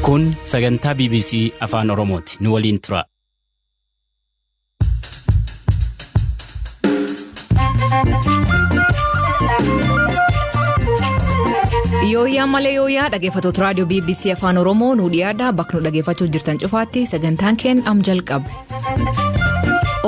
Kun sagantaa BBC Afaan Oromooti. Nu waliin turaa. Yooyyaa malee yooyyaa dhaggeeffattoota raadiyoo BBC Afaan Oromoo nu dhiyaadha bakka nu dhaggeeffachuu jirtan cufaatti sagantaan keen am jalqabe.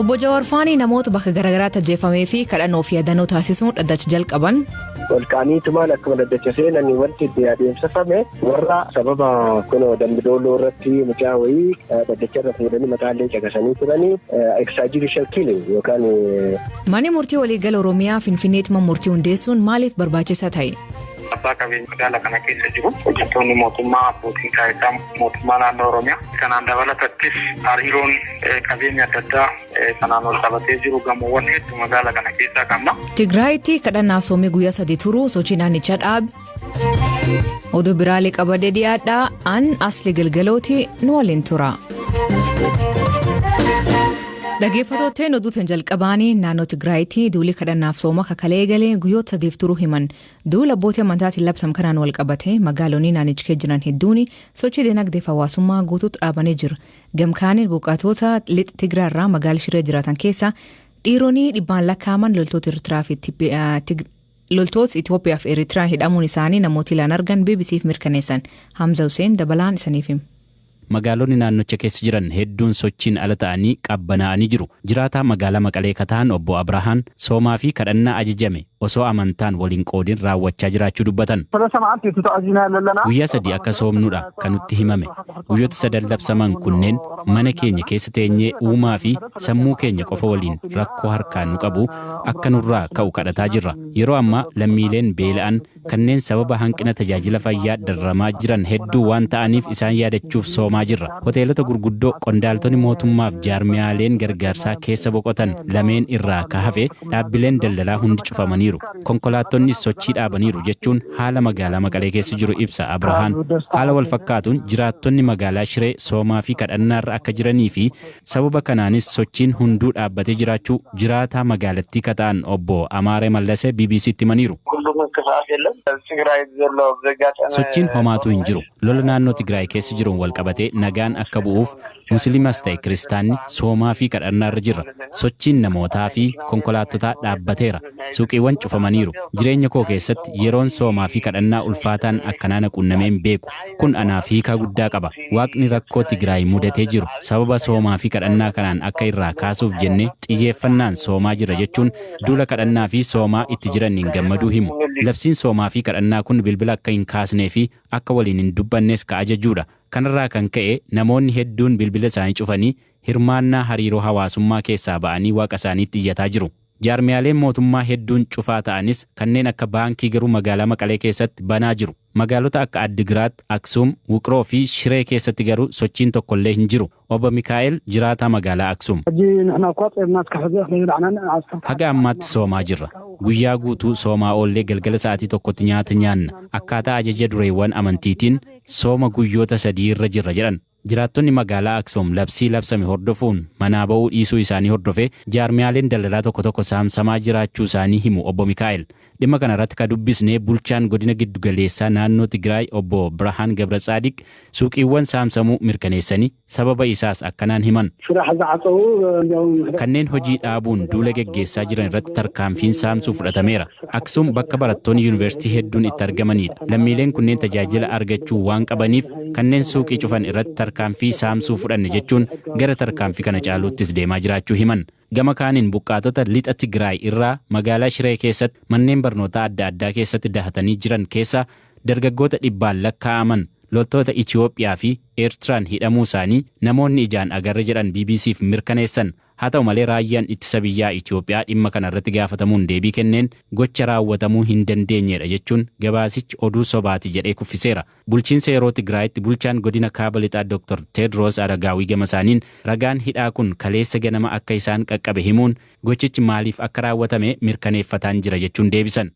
Obbo Jawaar Faanii namoota bakka garaagaraatti ajjeefamee fi kadhannoo fi yaadannoo taasisuun dhaddacha jalqaban. Ol ka'anii tumaan akkuma daddacha seenanii wanti itti adeemsifame warra sababa kun dambidooloo irratti mucaa wayii daddacha irra fuudhanii mataallee caqasanii turanii extrajudicial killing yookaan. Manni murtii waliigala Oromiyaa Finfinneetti mana murtii hundeessuun maaliif barbaachisaa ta'e? abbaa qabeenya magaala kana keessa jiru hojjettoonni mootummaa abbootiin taayitaa mootummaa naannoo oromiyaa kanaan dabalatattis hariiroon qabeenya adda addaa Kanaan wal qabatee jiru gamoowwan hedduu magaala kana keessaa qabna. Tigraayitti kadhannaaf soomii guyyaa sadii turu sochii naannichaa dhaabe. Oduu biraalee qabadee dhiyaadhaa an asli galgalooti nu waliin tura. Dhaggeeffattootteen oduutiin jalqabaanii naannoo Tigraayitti duulii kadhannaaf sooma kakalee eegalee guyyoota sadiif turuu himan duula abbootii amantaatiin labsam kanaan wal qabate magaalonni naannicha keessa jiran hedduun sochii dinagdee fi hawaasummaa guutuutti dhaabanii jiru. Gamkaaniin buqqaatoota lixa Tigraay irraa magaala Shiree jiraatan keessaa dhiironni dhibbaan lakkaa'aman loltoota Eertiraa fi loltoota Itoophiyaa fi Eritraa hidhamuun isaanii namoota ilaan argan BBC'f mirkaneessan. Hamza Hussein dabalaan isaniif hima. Magaalonni naannocha keessa jiran hedduun sochiin ala ta'anii qabbanaa'anii jiru. Jiraataa magaalaa Maqalee kataan obbo Abrahaan soomaa fi kadhannaa ajajame osoo amantaan wal hin qoodin raawwachaa jiraachuu dubbatan. Guyyaa sadii akka soomnudha kan nutti himame. Guyyoota sadan labsaman kunneen mana keenya keessa teenyee uumaa fi sammuu keenya qofa waliin rakkoo harkaan nu qabu akka nurraa ka'u kadhataa jirra. Yeroo ammaa lammiileen beela'an kanneen sababa hanqina tajaajila fayyaa dararamaa jiran hedduu waan ta'aniif isaan yaadachuuf soomaa jirra. Hoteelota gurguddoo qondaaltoni mootummaaf jaarmiyaaleen gargaarsaa keessa boqotan lameen irraa ka hafe Dhaabbileen daldalaa hundi cufamaniiru. Konkolaattonnis sochii dhaabaniiru jechuun haala magaalaa Maqalee keessa jiru ibsa Abrahaan. Haala wal fakkaatuun jiraattonni magaalaa Shiree soomaa fi kadhannaarra akka jiranii fi sababa kanaanis sochiin hunduu dhaabbatee jiraachuu jiraataa magaalattii ka ta'an Obbo Amaare Mallase BBC'tti himaniiru. Sochiin homaatuu hin jiru. Lola naannoo Tigraay keessa jiruun wal qabatee nagaan akka bu'uuf Musliimas ta'e Kiristaanni soomaa fi kadhannaa irra jirra. Sochiin namootaa fi konkolaattotaa dhaabbateera. Suuqiiwwan cufamaniiru. Jireenya koo keessatti yeroon soomaa fi kadhannaa ulfaataan akkanaa na quunnamee hin beeku. Kun anaaf hiikaa guddaa qaba. Waaqni rakkoo Tigraay mudatee jiru sababa soomaa fi kadhannaa kanaan akka irraa kaasuuf jennee xiyyeeffannaan soomaa jirra jechuun duula kadhannaa fi soomaa itti jiranniin gammaduu himu. Labsiin soomaa fi kadhannaa kun bilbila akka hin kaasnee fi akka waliin hin dubbannes ka ajajuu dha. Kanarraa kan ka'e namoonni hedduun bilbila isaanii cufanii hirmaannaa hariiroo hawaasummaa keessaa ba'anii waaqa isaaniitti iyyataa jiru. Jaarmiyaaleen mootummaa hedduun cufaa ta'anis kanneen akka baankii garuu magaalaa Maqalee keessatti banaa jiru. Magaalota akka Addigiraat, Aksuum, Wuqroo fi Shiree keessatti garuu sochiin tokkollee hin jiru. Oba Mikaa'el, jiraataa magaalaa Aksum. Haga ammaatti soomaa jirra. Guyyaa guutuu soomaa oollee galgala sa'aatii tokkotti nyaata nyaanna. Akkaataa ajaja dureewwan amantiitiin sooma guyyoota sadii irra jirra jedhan. Jiraattonni magaalaa Aksum labsii labsame hordofuun manaa ba'uu dhiisuu isaanii hordofee jaarmiyaaleen daldalaa tokko tokko saamsamaa jiraachuu isaanii himu Obbo Mikaa'el. Dhimma kana irratti ka dubbisne bulchaan godina giddu galeessaa naannoo Tigraay obbo Birahaan Gabratsaadiq suuqiiwwan saamsamuu mirkaneessanii sababa isaas akkanaan himan. Kanneen hojii dhaabuun duula geggeessaa jiran irratti tarkaanfiin saamsuu fudhatameera. Aksum bakka barattoonni yuunivarsiitii hedduun itti argamaniidha. Lammiileen kunneen tajaajila argachuu waan qabaniif kanneen suuqii cufan irratti tarkaanfii saamsuu fudhanne jechuun gara tarkaanfii kana caaluuttis deemaa jiraachuu himan. Gama kaaniin buqqaatota Lixa Tigraay irraa magaalaa Shiree keessatti manneen barnootaa adda addaa keessatti dahatanii jiran keessaa dargaggoota dhibbaan lakkaa'aman loltoota Itiyoophiyaa fi Eertiraan hidhamuu isaanii namoonni ijaan agarre jedhan BBC'f mirkaneessan. Haa ta'u malee Raayyaan Ittisa Biyyaa Itiyoophiyaa dhimma kana irratti gaafatamuun deebii kenneen gocha raawwatamuu hin dandeenyeedha jechuun gabaasichi oduu sobaati jedhee kuffiseera. Bulchiinsa yeroo Tigraayitti bulchaan godina Kaaba Lixaa Doktar Teedroos Aragaawii gamasaaniin, ragaan hidhaa kun kaleessa ganama akka isaan qaqqabe himuun, gochichi maaliif akka raawwatame mirkaneeffataan jira jechuun deebisan.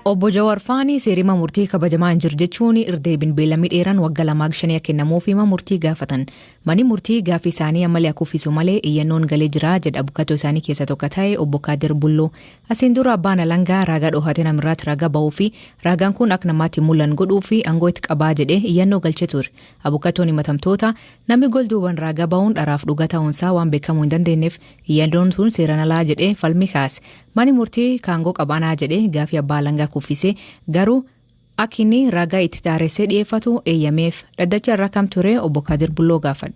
Obbo Jawar Faanii seerima murtii kabajamaa hin jiru jechuun irdeebin beellamni dheeraan wagga lamaa gshaniya kennamuuf hima murtii gaafatan. Mani murtii gaaffii isaanii ammalee haa kuffisu malee iyyannoon galee jira, jedha abukatoo isaanii keessaa tokko ta'e obbo Kaadir Bulloo. Asiin dura abbaan alangaa raagaa dhoohate namirraatti raagaa bahuu fi raagaan kun akka namaatti hin mul'an godhuu fi angoo itti qabaa jedhee iyyannoo galchee ture. Abukatoon himatamtoota namni gol duuban raagaa bahuun dharaaf dhugaa ta'uun isaa waan beekamuu hin dandeenyeef iyyannoon tun seeran alaa jedhee falmii kaase. Mani murtii kaangoo qabaanaa jedhee gaaffii abbaa alangaa kuffisee garuu Akka inni ragaa itti taaressee dhiyeeffatu eeyyameef dhaddacha irra kam ture obbo Kadir Bulloo gaafadhe.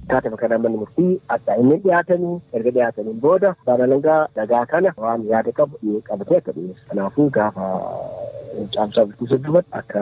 Taatema kanaan manni murtii adda hinneen dhiyaatanii erga dhiyaataniin booda abbaan alangaa ragaa kana waan yaada qabu qabatee akka dhiyeessu. Kanaafuu gaafa caamsaa bultii soddomatti akka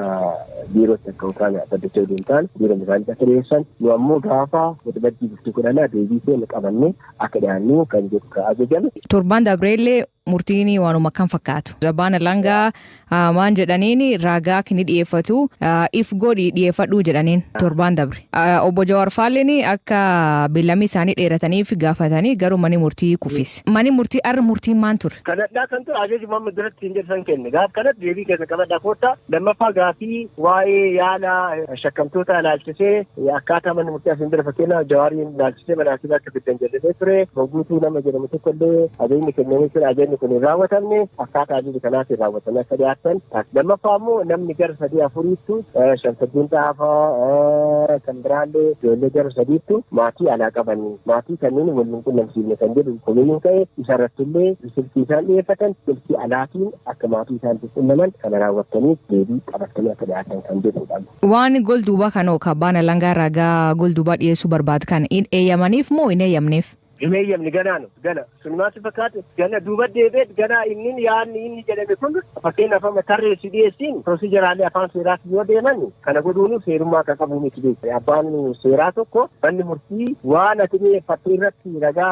biirootti akka utaan dhaddacha oduu hin taane biiroon isaaniitti akka dhiyeessan nu ammoo gaafa waxabajjii bultii kudhanaa deebii keenya qabannee akka dhiyaannu kan jedhu kan ajajame. Torbaan dabreellee murtiin waanuma kan fakkaatu. Abbaan alangaa ah, maan jedhaniin ragaa kini dhiyeeffatu ah, if godhi dhiyeeffadhuu jedhaniin torbaan dabre. Ah, Obbo Jawaar Faalleen akka beellamii isaanii dheerataniif gaafatanii garuu mani murtii kufis. Mani murtii arra murtiin maan ture? Kanadhaa kan ture ajaji Muhammad duratti hin jedhan kenne. Gaaf kanatti deebii keessa qabadhaa koottaa lammaffaa gaafii waa'ee yaala Shakkamtoota ilaalchisee akkaataa manni murtii asiin dura fakkeenyaaf Jawaariin ilaalchisee mana haakimaa akka fiddan jedhamee ture. Moguutuu nama jedhamu tokko illee ajajni kennamee ture ajajni kun hin raawwatamne akkaataa ajaja kanaatiin raawwatamee akka dhiyaatan. Lammaffaa immoo namni gara sadii afuriittu Shamsaddiin Xaafaa kan biraallee ijoollee gara sadiittu maatii alaa qabanii maatii kanneen wal hin qunnamsiifne kan jedhu komiin ka'e isarratti illee Silkii isaan dhiyeeffatan silkii alaatiin akka maatii isaaniitiif qunnaman kana raawwattaniif deebii qabattanii akka dhiyaattan kan jedhuudha. Waan gol duubaa kan hoo ka abbaan alangaa ragaa gol duubaa dhiyeessuu barbaad kan hin eeyyamaniif moo hin eeyyamneef? Hin eeyyamne ganaanu gana sun maal si fakkaate gana duuba deebi'eet ganaa inni yaadni inni jedhame kun fakkeenyaaf amma tarreessi dhiyeessiin pirosijaraalee afaan seeraatti yoo deeman Kana godhuunuu seerummaa akka qabu miti beekte. Abbaan seeraa tokko manni murtii waan ati dhiyeeffatte irratti ragaa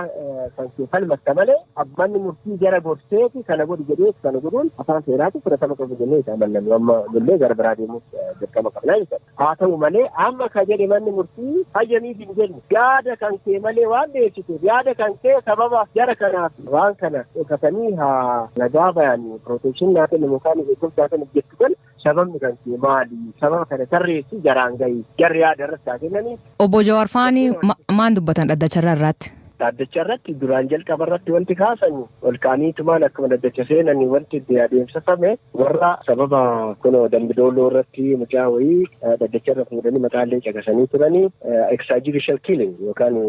kan kee falmatta malee manni murtii jara gorseeti kana godhi jedhee kana godhuun afaan seeraati fudhatama qabu jennee isa amannamu amma illee gara biraa deemuuf dirqama qabnaa jechuudha. Haa ta'u malee amma ka jedhe manni murtii hayyamiif hin jenne yaada kan kee malee waan dhiyeessiteef yaada kan kee sababa jara kanaaf waan kana dhokatanii haa ragaa bayan pirooteekshinii naa kennamu kaan eegumsaa kan jettu kan Sababni kan kee maali? Sababa kana tarreessii jaraan gahi. Jarri yaada irratti haa kennanii. Obbo Jawaar faan ma- maan dubbatan dhaddacha irra irraatti? Dhaddacha irratti duraan jalqaba irratti wanti kaasan ol kaaniitumaan akkuma dhaddacha seenan wanti itti adeemsifame warra sababa kunoo dambidooloo irratti mucaa wayii eh, dhaddacha irra fuudhanii maqaa illee caqasanii turanii extrajudicial killing yookaan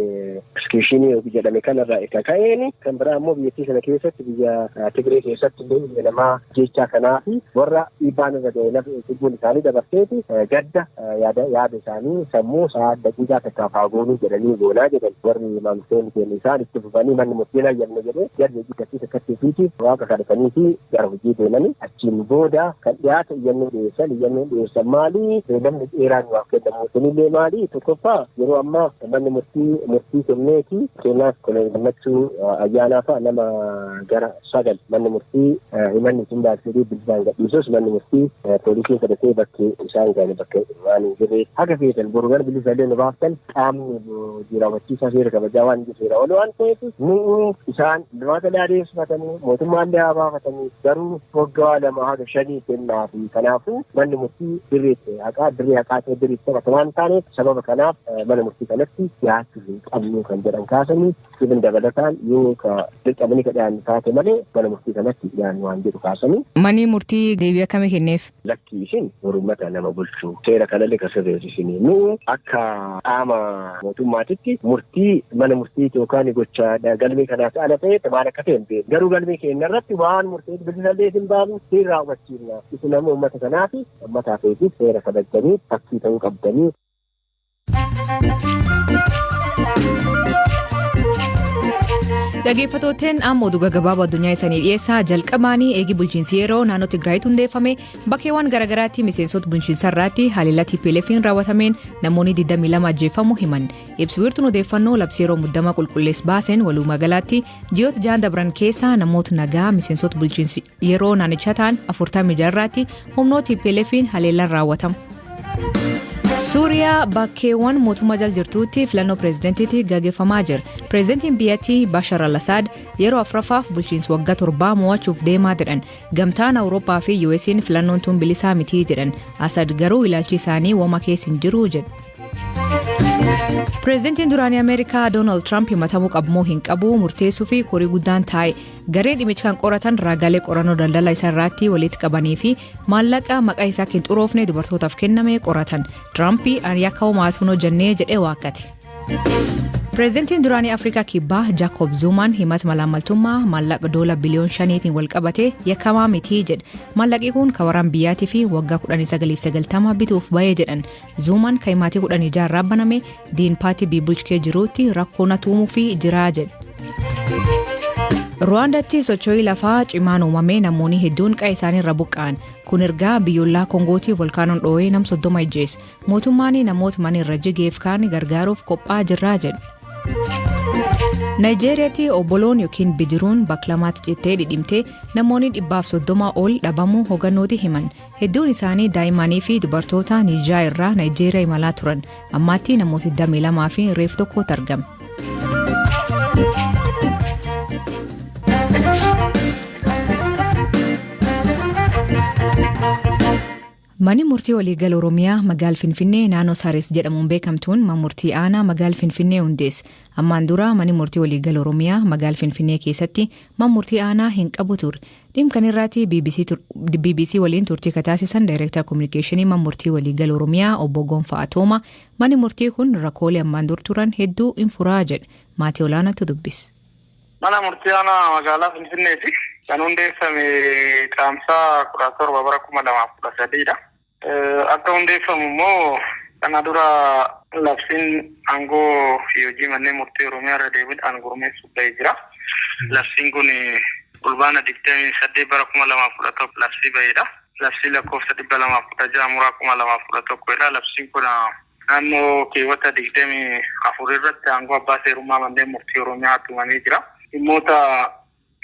executionii yookiin jedhame kanarraa isa ka'een kan biraa immoo biyyattii sana keessatti biyya eh, Tigree keessatti illee biyya namaa ajjeechaa kanaa fi warra dhiibbaan irra ga'e lubbuun isaanii dabarteef gadda yaada isaanii sammuu isaa daqiiqaa takkaaf haa goonuu jedhanii goonaa jedhan warri maamiltoonni keenya isaan itti fufanii manni murtiin hayyamne jedhee jarri hojjetanii takkatti fiitiif waaqa kadhatanii fi gara hojii deemanii achiin booda kan dhiyaate iyyannoo dhiyeessan iyyannoo dhiyeessan maalii beelamni dheeraan waaf kennamu kunillee maalii tokkoffaa yeroo ammaa manni murtii murtii kenneeti keenyaas kolonii gammachuu ayyaanaa fa'a nama gara 9. Manni murtii himanni isin baasirii bilisaan gadhiisus manni murtii poolisiin fudhatee bakki isaan ga'an bakka waan hin jirreef haga feetan boru gara bilisa illee nu baaftan qaamni hojii raawwachiisaa seera kabajaa waan hin seera ol waan ta'eef nu'u isaan dumaata illee adeemsifatanii mootummaa illee haa baafatanii garuu waggaa lama haga shanii kennaa fi kanaafuu manni murtii dirreetti haqaa dirree haqaa ta'e dirreetti taphata waan taaneef sababa kanaaf mana murtii kanatti dhiyaachuu hin qabnu kan jedhan kaasanii Kun dabalataan yoo ka dirqamanii ka dhiyaannu taate malee mana murtii kanatti hin dhiyaannu waan jedhu kaasanii. Manii murtii deebii akkamii kenneef? Lakkii isin bor ummata nama bulchu. Seera kanallee ka sirreessu isini. Nu akka qaama mootummaatitti murtii mana murtiiti yookaan gocha galmee kanaas ala ta'etti maal akka ta'e hin beeknu. Garuu galmee keenya irratti waan murteef bilisallee isin baafnu siin raawwachiifna. Isin ammoo ummata kanaafi ummata hafeetiif seera kabajjanii fakkii ta'uu qabdanii. Dhageeffatooteen amma oduu gaggabaaboo addunyaa isanii dhiyeessaa jalqabaanii eegi bulchiinsi yeroo naannoo Tigraayitti hundeeffame bakkeewwan garaagaraatti miseensota bulchiinsa irratti haleellaa TPLF'n raawwatameen namoonni 22 ajjeeffamu himan ibsi wiirtuun odeeffannoo labsii yeroo muddama qulqullees baaseen walumaa galaatti ji'oota ja'an dabran keessaa namoota nagaa miseensota bulchiinsi Yeroo naannicha ta'an 46 irraatti humnoo TPLFiin haleellaan raawwatama. Suuriyaa bakkeewwan mootummaa jal jirtuutti filannoo pireezidentiitti gaggeeffamaa jira. Pireezidentiin biyyattii Bashar al-Assad yeroo afraffaaf bulchiinsi waggaa torbaa mo'achuuf deemaa jedhan. Gamtaan Awurooppaa fi US'n filannoon tun bilisaa mitii jedhan. Assad garuu ilaalchi isaanii woma keessa hin jiru jedhu. Pireezidentiin duraanii Ameerikaa Doonaald Tiraamp himatamuu qabmoo hin qabu murteessuu fi korii guddaan taa'e. garee dhimicha kan qoratan raagaalee qorannoo daldala isaa irratti walitti qabanii fi maallaqa maqaa isaa kan xuroofne dubartootaaf kenname qoratan tiraampi ani akka homaatuun hojjannee jedhee waakkate. pireezidantiin duraanii afrikaa kibbaa jaakoob zuumaan himata malaammaltummaa maallaqa doola biliyoon shaniitiin walqabate yakkamaa mitii jedhe maallaqi kun kawaraan biyyaatii fi waggaa 1990 bituuf ba'ee jedhan Zuumaan kan maatii kudhanii jaarraa baname diin paatii biibulchkee jiruutti rakkoo na tuumuu fi jiraa jedhe. Ruwaandaatti socho'ii lafaa cimaan uumamee namoonni hedduun qe'ee isaaniirra buqqa'an kun ergaa biyyoolaa Koongootii volkaanoon dhoo'ee nam soddoma ijjeesse mootummaan namoota mana irra jigeef kaan gargaaruuf qophaa'aa jirraa jedhe. Naayijeeriyaatti obboloon yookiin bidiruun baklamaatti cittee dhidhimtee namoonni dhibbaaf soddoma ol dhabamuu hogannooti himan Hedduun isaanii daa'immanii fi dubartoota Niijaa irraa Naayijeeriyaa imalaa turan. Ammaatti namoota 22 fi reef tokkotu argame. Manni murtii waliigala Oromiyaa magaal Finfinnee naannoo Saares jedhamuun beekamtuun mana murtii aanaa magaal Finfinnee hundeesse. Ammaan dura manni murtii waliigala Oromiyaa magaal Finfinnee keessatti mana murtii aanaa hin qabu ture. Dhim kan irraati BBC, tur, BBC waliin turtii ka taasisan Daayireektar Kominikeeshinii Man Murtii Waliigal Oromiyaa obbo Gonfaa Atooma mani murtii kun rakkoolee ammaan dur turan hedduu in furaa jedhe maatii olaanaatu dubbis. Mana murtii aanaa magaalaa Finfinneeti kan hundeeffame caamsaa kudha torba bara kuma lamaaf kudha sadiidha. Akka hundeeffamu immoo kana dura labsiin aangoo fi hojii manneen murtii Oromiyaa irra deebiidhaan gurmeessuuf ba'ee jira. Labsiin kun Fulbaana 28 bara 2011 labsii ba'eedha. Labsii lakkoofsa 216 muraa 2011 jedha. Labsiin kun naannoo keewwata 24 irratti aangoo abbaa seerummaa manneen murtii Oromiyaa tumamee jira. Dhimmoota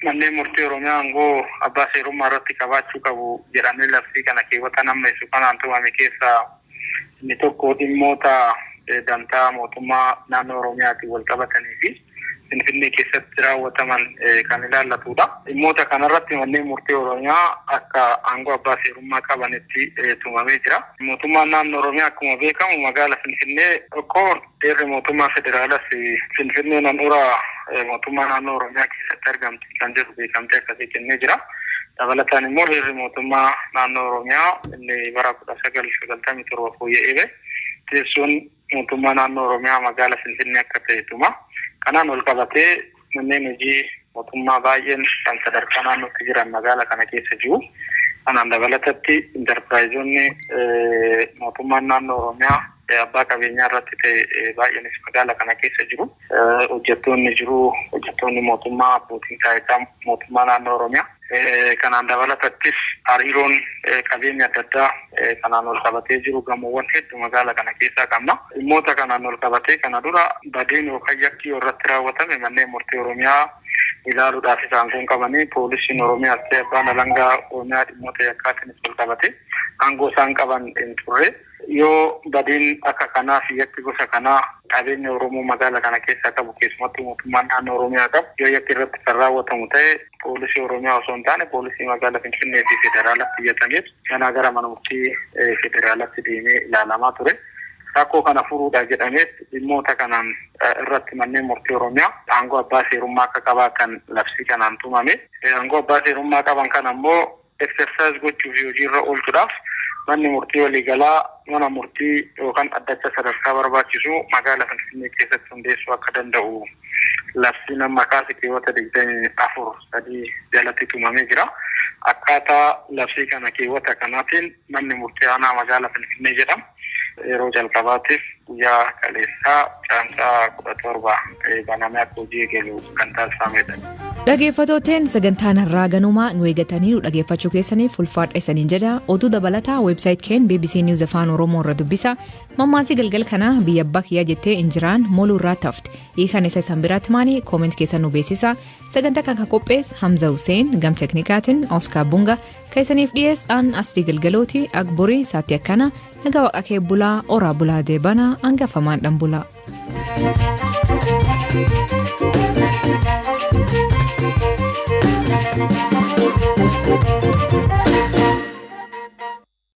Manneen Murtii Oromiyaa aangoo abbaa seerummaa irratti qabaachuu qabu jedhamee labsii kana keewwataan ammeessu kanaan tumame keessaa inni tokko dhimmoota dantaa mootummaa naannoo Oromiyaatiin walqabatanii fi Finfinnee keessatti raawwataman kan ilaallatu dha. Dhimmoota kana irratti Manneen Murtii Oromiyaa akka aangoo abbaa seerummaa qabanitti tumamee jira. Mootummaan naannoo Oromiyaa akkuma beekamu magaala Finfinnee tokko Heerri mootummaa federaalaas Finfinneen handhuura mootummaa naannoo Oromiyaa keessatti argamti kan jedhu beekamtii akkasii kennee jira. Dabalataan immoo heerri mootummaa naannoo Oromiyaa inni bara 1997 fooyya'ee ba'e teessoon mootummaa naannoo Oromiyaa magaala Finfinnee akka ta'e tuma. Kanaan wal qabatee Manneen hojii mootummaa baay'een kan sadarkaa naannootti jiran magaala kana keessa jiru. Kanaan dabalatatti intarpiraayizoonni mootummaan naannoo Oromiyaa abbaa qabeenyaa irratti ta'e baay'eenis magaala kana keessa jiru. Hojjettoonni jiru. Hojjettoonni mootummaa abbootiin taayitaa mootummaa naannoo Oromiyaa Kanaan dabalatattis hariiroon qabeenya adda addaa kanaan wal qabatee jiru gamoowwan hedduu magaala kana keessaa qabna. Dhimmoota kanaan wal qabatee kana dura badeen yookaan yakki yoo irratti raawwatame manneen murtii Oromiyaa ilaaluudhaaf isa aangoon qabanii poolisiin Oromiyaas ta'e abbaan alangaa Oromiyaa dhimmoota yakkaatiinis wal qabatee aangoo isaan qaban hin turre. Yoo badiin akka kanaa fi yakki gosa kanaa qabeenya Oromoo magaala kana keessaa qabu keessumattuu mootummaan naannoo Oromiyaa qabu yoo yakki irratti kan raawwatamu ta'e poolisii Oromiyaa osoo hin taane poolisii magaala Finfinnee fi federaalatti iyyatameet ganaa gara mana murtii federaalatti deemee ilaalamaa ture. Rakkoo kana furuudha jedhameet dhimmoota kanaan irratti manneen murtii Oromiyaa aangoo abbaa seerummaa akka qabaatan labsii kanaan tumame. Aangoo abbaa seerummaa qaban kana immoo exercise gochuu fi hojiirra oolchuudhaaf manni murtii waliigalaa mana murtii yookan dhaddacha sadarkaa barbaachisu magaala Finfinnee keessatti hundeessuu akka danda'u labsiin amma kaase keewwata 24 3 jalatti tumamee jira. Akkaataa labsii kana keewwata kanaatiin Manni Murtii Aanaa Magaalaa Finfinnee jedhamu yeroo jalqabaatiif guyyaa kaleessaa Caamsaa 17 banamee akka hojii eegalu kan taasifameedha. Dhageeffatooteen sagantaan har'aa ganumaa nu eegatanii nu dhageeffachuu keessaniif ulfaadha isaniin jedha oduu dabalataa weebsaayit keen bbc News Afaan Oromoo irra dubbisa mammaasii galgal kanaa biyya abbaa kiyyaa jettee injiraan moluu irraa tafte hiikan isa isan biraatti maanii kooment keessa nu beeksisa sagantaa kan qophees Hamza Hussein gam teknikaatiin Oskaar Bunga Ka isaniif dhiyees aan asdii galgalooti agburii isaatti akkana nagaa waqa kee bulaa oraa bulaa deebana angafamaan dhan bulaa.